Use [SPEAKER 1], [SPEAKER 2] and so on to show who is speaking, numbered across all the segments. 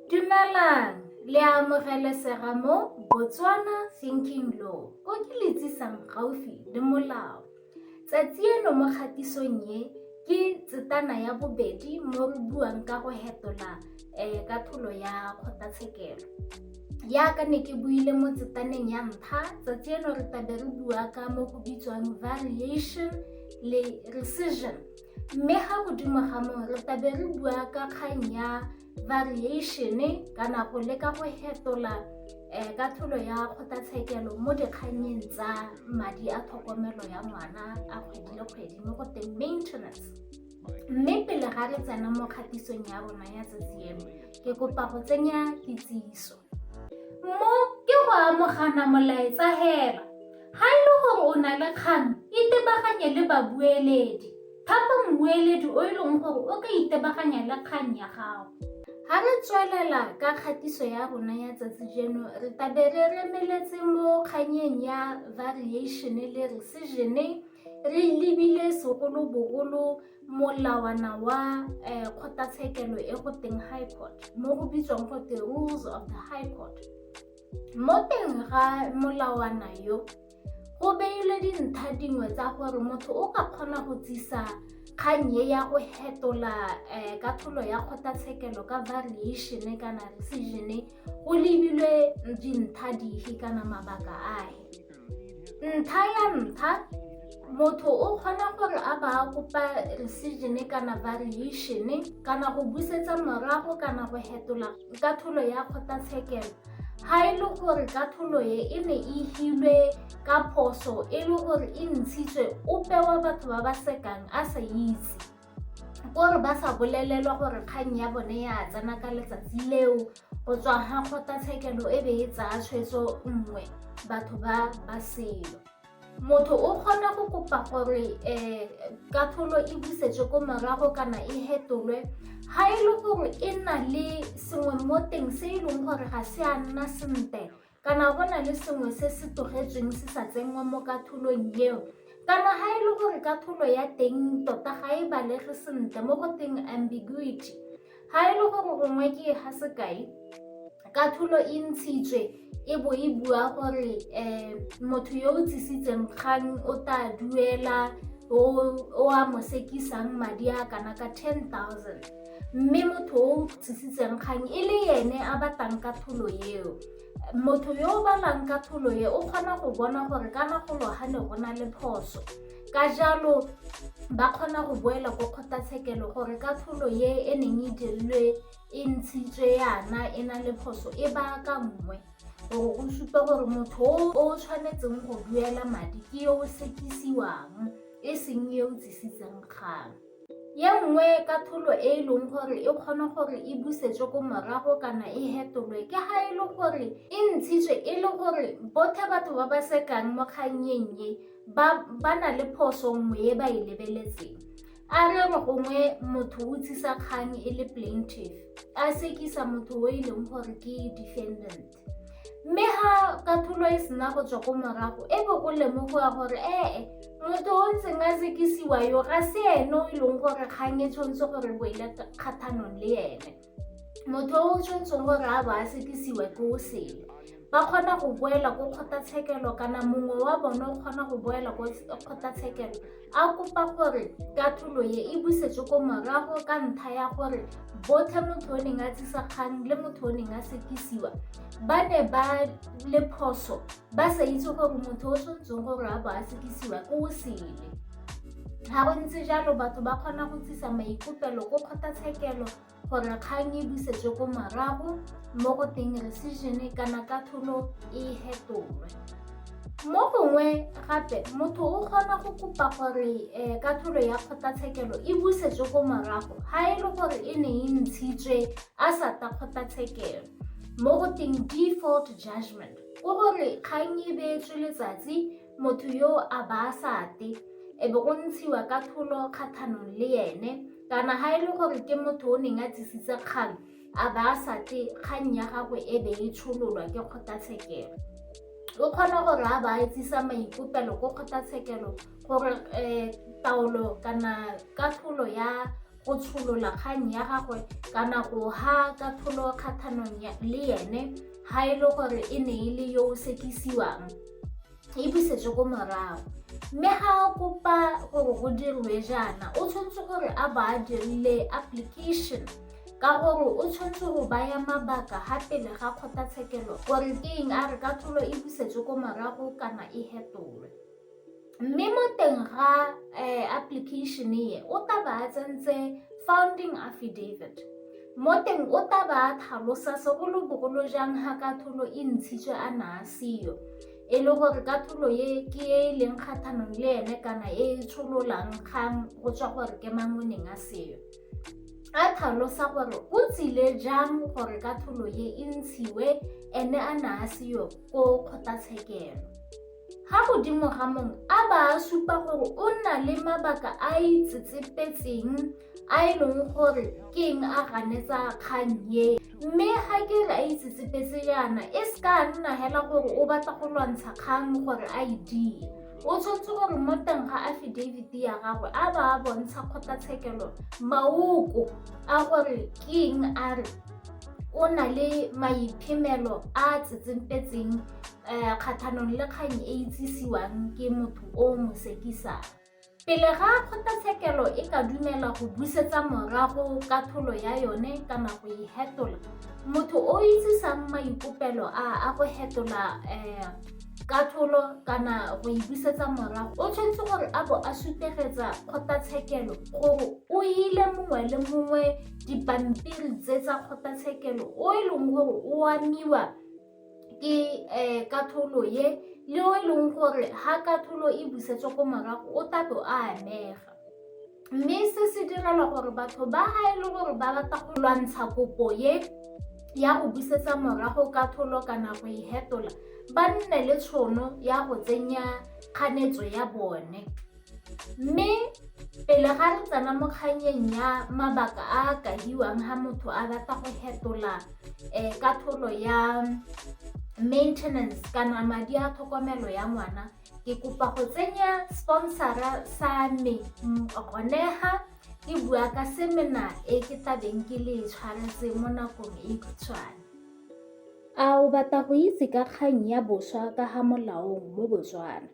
[SPEAKER 1] Dumelang, le a amogelesega mo Botswana Thinking Law, ko ke le tsisang gaufi le molao. Tsatsi eno mo kgatisong ye ke tsetana ya bobedi mo re buang ka go hetola um ka tholo ya kgotlatshekelo. Yaka ne ke buile mo tsetaneng ya ntlha, tsatsi eno re tabe re bua ka mo go bitswang variation le rescission. Mme ga godimo ga moo re tlabe re bua ka kgang ya variation kana go leka go hetola um ka tholo ya kgotlatshekelo mo dikgannyeng tsa madi a tlhokomelo ya ngwana a kgwedi le kgwedi mo go teng maintenance mme pele ga re tsena mo kgatisong ya rona ya tsatsi eno ke kopa go tsenya kitsiso mo ke go amogana molaetsa hela Ga e le gore o na le kgang, itebaganye le babueledi. Thapa mmueledi o e leng gore o ka itebaganya le kgang ya gago. Ga re tswelela ka kgatiso ya rona ya tsatsi jeno, re tabe re remeletse mo kganyeng ya variation le resizene re lebile segolobogolo molawana wa um kgotlatshekelo e go teng high court mo go bitswang go te rules of the high court Mo teng ga molawana yo, go beilwe dintlha dingwe tsa gore motho o ka kgona go tsisa kgang e ya go hetola um katlholo ya kgotlatshekelo ka variation kana rescission go lebilwe dintlha dife kana mabaka ahe. ntlha ya ntlha motho o kgona gore a ba a kopa resegin kana variation kana go busetsa morago kana go hetola ka tholo ya kgotlatshekelo ga e le gore ka tholo e e ne e hilwe ka phoso e le gore e ntshitswe o pewa batho ba ba sekang a sa itse ko re ba sa bolelelwa gore kgang ya bone ya tsena ka letsatsi leo go tswa ga kgotlatshekelo e be e tsaya tshwetso nngwe batho ba ba selo motho o kgona go kopa gore um katholo e busetswe ko morago kana e hetolwe ga e le gore e na le sengwe mo teng se e leng gore ga se a nna sentle Kana go na le sengwe se se tlogetsweng se sa tsenngwa mo katholong eo? Kana ga e le gore katholo ya teng tota ga e balege sentle mo go teng ambiguity, ga e le gore gongwe ke e ga sekai, katholo e ntshitswe e bo e bua gore um motho yo o tsisitseng kgang o tla duela o a mo sekisang madi a kana ka ten thousand. mme motho o tshositseng kgang e le ene a batlang ka pholo eo motho yo o balang ka pholo e o kgona go bona gore ka nagolo ga ne go na le phoso ka jalo ba kgona go boela ko kgotlatshekelo gore ka pholo ye e neng e dirilwe e ntshitswe yana e na le phoso e ba ka nngwe gore go supa gore motho o o tshwanetseng go duela madi ke yo o sekisiwang e seng yo o tsisitseng kgang Ye nngwe katlholo e e leng gore e kgona gore e busetswe ko morago kana e hetolwe ke ga e le gore e ntshitswe e le gore bothe batho ba ba sekang mo kgannyeng ye ba ba na le phoso nngwe e ba e lebeletseng a re re gongwe motho o tsisa kgang e le plaintiff a sekisa motho o e leng gore ke defendant mme ga kathulo e sena go tswa ko morago e be o lemogoa gore ee motho o ntseng a sekisiwa yo ga se ene o e leng gore kgang e tshwanetse gore bo ile kgathanong le ene motho o o tshwanetseng gore a ba a sekisiwa ke o sele ba kgona go boela ko kgotlatshekelo kana mongwe wa bone o kgona go boela ko kgotlatshekelo a kopa gore katlholo ye e busetswe ko morago ka ntlha ya gore botlhe motho o neng a tsisa kgang le motho o neng a sekisiwa ba ne ba le phoso ba sa itse gore motho o tshwanetseng gore a bo a sekisiwa ke o sele ga go ntse jalo batho ba kgona go tsisa maikopelo ko kgotlatshekelo gore kgang e busetswe ko morago mo go teng rescission kana katlholo e hetolwe mo gongwe gape motho o kgona go kopa gore um katlholo ya kgotlatshekelo e busetswe ko morago ga e le gore e ne e ntshitswe a sa ta kgotlatshekelo mo go teng default judgment o gore kgang e beetswe letsatsi Motho yo a ba a sa te, e be go ntshiwa ka tholo kgatlhanong le ene, kana ga e le gore ke motho o neng a tsisitse kgang, a ba a sa te, kgang ya gagwe e be e tshololwa ke kgotlatshekelo. O kgona gore a ba a etsisa maikopelo ko kgotlatshekelo gore um taolo kana katlholo ya go tsholola kgang ya gagwe kana go ha katlholo kgathanong le ene ga e le gore e ne e le yo o sekisiwang e busetswe ko morago mme ga a kopa gore go dirwe jaana o tshwanetse gore a ba a dirile application ka gore o tshwanetse go baya mabaka ga pele ga kgotlatshekelo gore ke eng a re katlholo e busetswe ko morago kana e hetolwe mme mo teng ga um application e o taba a tsentse founding affidavit mo teng o taba a tlhalosa segolobogolo jang ga katholo e ntshitswe a na a seyo e le gore katholo e ke e e leng kgathanong le ene kana e e tshololang kgang go tswa gore ke mang o neng a seyo a tlhalosa gore o tsile jang gore katholo e e ntshiwe ene a na a seyo ko kgotlatshekelo Ga godimo ga mong a ba a supa gore o na le mabaka a a itsetsepetseng a e leng gore ke eng a ganetsa kgang ye mme ga ke re a itsetsepetse yana e se ka nna hela gore o batla go lwantsha kgang gore a e die o tshwanetse gore mo teng ga affidavit ya gagwe a ba a bontsha kgotlatshekelo maoko a gore ke eng a re o na le maiphemelo a tsetsempetseng um kgatlhanong le kgang e itsisiwang ke motho o mosekisang pele ga kgotlatshekelo e ka dumela go busetsa morago ka tholo ya yone kana go e hetola motho o itsisang maikopelo a a go hetola um ka tholo kana go e busetsa morago o tshwanetse gore a bo a sutegetsa kgotlatshekelo gore o ile mongwe le mongwe dipampiri tse tsa kgotlatshekelo o e leng gore o amiwa ke um katholo ye le o e leng gore ga katholo e busetswa ko morago o tato a amega mme se se direlwa gore batho ba ga e le gore ba rata go lwantsha kopo ye ya go busetsa morago katholo kana go e hetola ba nne le tshono ya go tsenya kganetso ya bone Mme pele ga re tsena mo kganyeng ya mabaka a a kahiwang ha motho a batla go hetola um ka tholo ya maintenance kana madi a tlhokomelo ya ngwana ke kopa go tsenya sponsora sa me gone ga ke bua ka semena e ke tlabeng ke le tshwaretse mo nakong e khutshwane a o batla go itse ka kgang ya boswa ka ga molaong mo botswana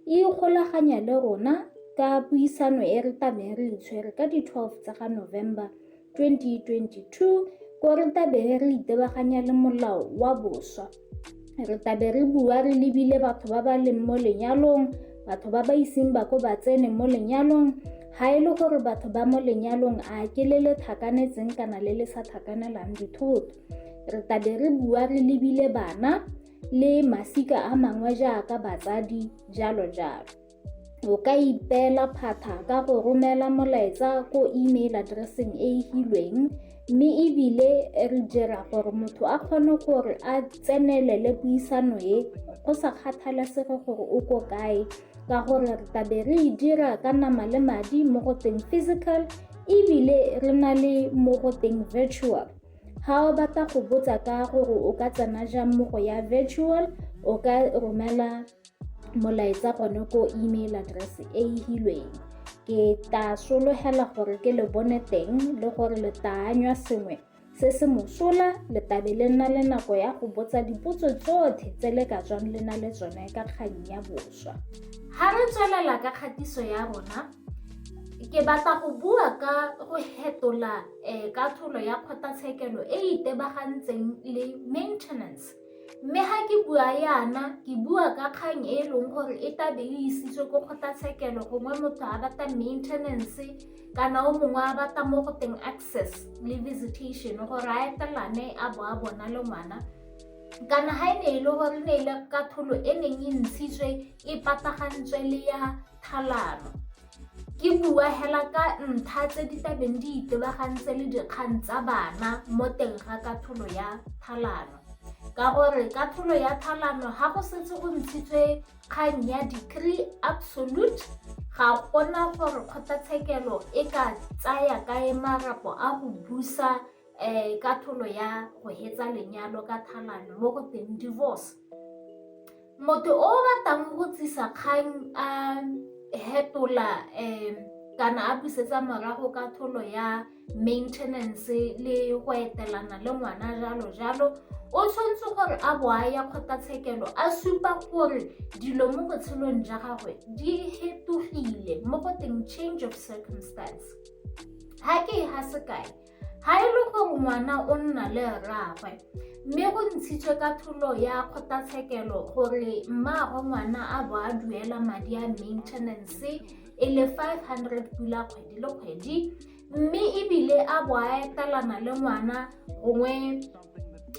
[SPEAKER 1] E ikgolaganya le rona ka puisano e re tabeng re itshwere ka di 12 tsa ga November 2022 ko re tabeng re itebaganya le molao wa boswa re tabe re bua re lebile batho ba ba leng mo lenyalong batho ba ba iseng ba ko ba tsene mo lenyalong ga e le gore batho ba mo lenyalong a ke le le thakanetseng kana le le sa thakanelang dithoto re tabe re bua re lebile bana le masika a mangwe jaaka batsadi jalo jalo o ka ipeela phatha ka go romela molaetsa ko email addresseng e e hilweng mme ebile re dira gore motho a kgone gore a tsenelele puisano e go sa kgathalesege gore o ko kae ka gore re tabe re e dira ka nama le madi mo go teng physical ebile re na le mo go teng virtual Ga o batla go botsa ka gore o ka tsena jang mo go ya virtual, o ka romela molaetsa gone ko email address e e hilweng. Ke tla sologela gore ke le bone teng le gore le taanywa sengwe se se mosola le tabe le nna le nako ya go botsa dipotso tsotlhe tse le ka tswang le na le tsone ka kgang ya boswa. Ga re tswelela ka kgatiso ya rona, ke batla go bua ka go hetola um katlholo ya kgotlatshekelo e e itebagantseng le maintenance mme ga ke bua yana ke bua ka kgang e e leng gore e tabe e isitswe ko kgotlatshekelo gongwe motho a batla maintenance kana o mongwe a batla mo go teng access le visitation gore a etelane a bo a bona le ngwana kana ga e ne e le gore ne e le katlholo e neng e ntshitswe e patagantswe le ya tlhalano. Ke bua hela ka ntlha tse di tlabeng di itebagantse le dikgang tsa bana mo teng ga katlholo ya tlhalano ka gore katlholo ya tlhalano ga go setse go ntshitswe kgang ya decree absolute ga gona gore kgotlatshekelo e ka tsaya kae marapo a go busa um ka tholo ya go hetsa lenyalo ka thalano mo go teng divorce motho o batlang go tsisa kgang a hetola um kana a busetsa morago ka tholo ya maintenance le go etelana le ngwana jalo jalo o tshwanetse gore a bo a ya kgotlatshekelo a supa gore dilo mo botshelong ja gagwe di hetogile mo go teng change of circumstance ga ke e ga sekae Ga e le gore ngwana o nna le rraagwe mme go ntshitswe ka tholo ya kgotlatshekelo gore mmaagwe ngwana a bo a duela madi a maintenance e le 500 pula kgwedi le kgwedi mme ebile a bo a etelana le ngwana gongwe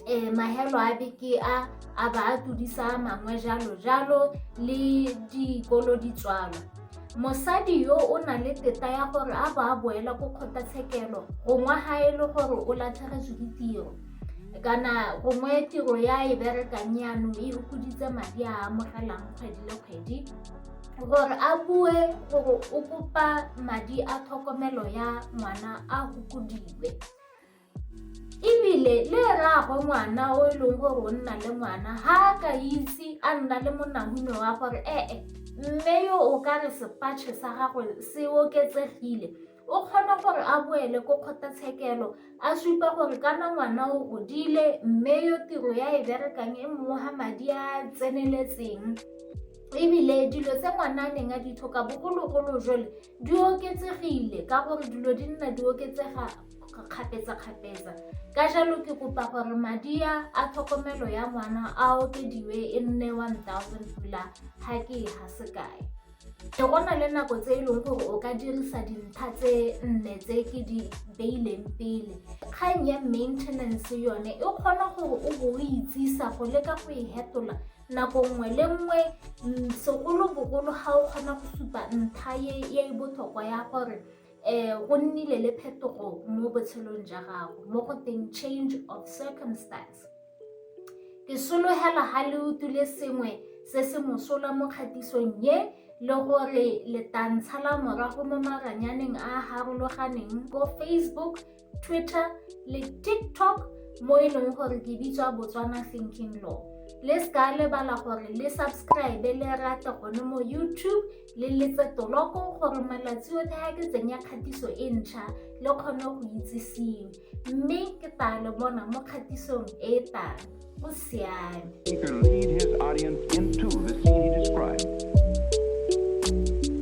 [SPEAKER 1] um mahelo a beke a a ba a tudisa mangwe jalo jalo le dikolo di tswalwa mosadi yo o na le teta ya gore a ba a boela ko kgotlatshekelo gongwe ga e le gore o latlhegetswe ke tiro kana gongwe tiro ya e berekang yanong e okoditse madi a amogelang kgwedi le kgwedi gore a bue gore o kopa madi a tlhokomelo ya ngwana a gokodiwe ebile le rraagwe ngwana o e leng gore o nna le ngwana ga a ka itse a nna le monahune wa gore ee mme yo o ka re sepatšhe sa gagwe se oketsegile o kgona gore a boele ko kgotlatshekelo a supa gore kana ngwana o godile mme yo tiro ya e berekang e mmoga madi a tseneletseng ebile dilo tse ngwana a neng a di tlhoka bogologolo jole di oketsegile ka gore dilo di nna di oketsega kgapetsa-kgapetsa ka jalo ke kopa gore madi a a tlhokomelo ya ngwana a okediwe e nne 1000 pula ga ke e ga sekae ke go na le nako tse e leng gore o ka dirisa dintlha tse nne tse ke di beileng pele kgang ya maintenance yone e kgona gore o bo o itsisa go leka go e hetola nako nngwe le nngwe segolobogolo ga o kgona go supa ntlha e e botlhokwa ya gore um go nnile le phetogo mo botshelong ja gago mo go teng change of circumstance ke sologela ga le utlwile sengwe se se mosola mo kgatisong ye le gore letantsha la morago mo maranyaneng a a harologaneng ko facebook twitter le tiktok mo e leng gore ke bitswa botswana thinking law le se ka lebala gore le subscribe le rate gone mo youtube le letse toloko gore malatsi otlhe ga ke tsenya kgatiso e ntšha le kgone go itsisiwe mme ke taa le bona mo kgatisong e e tang go siame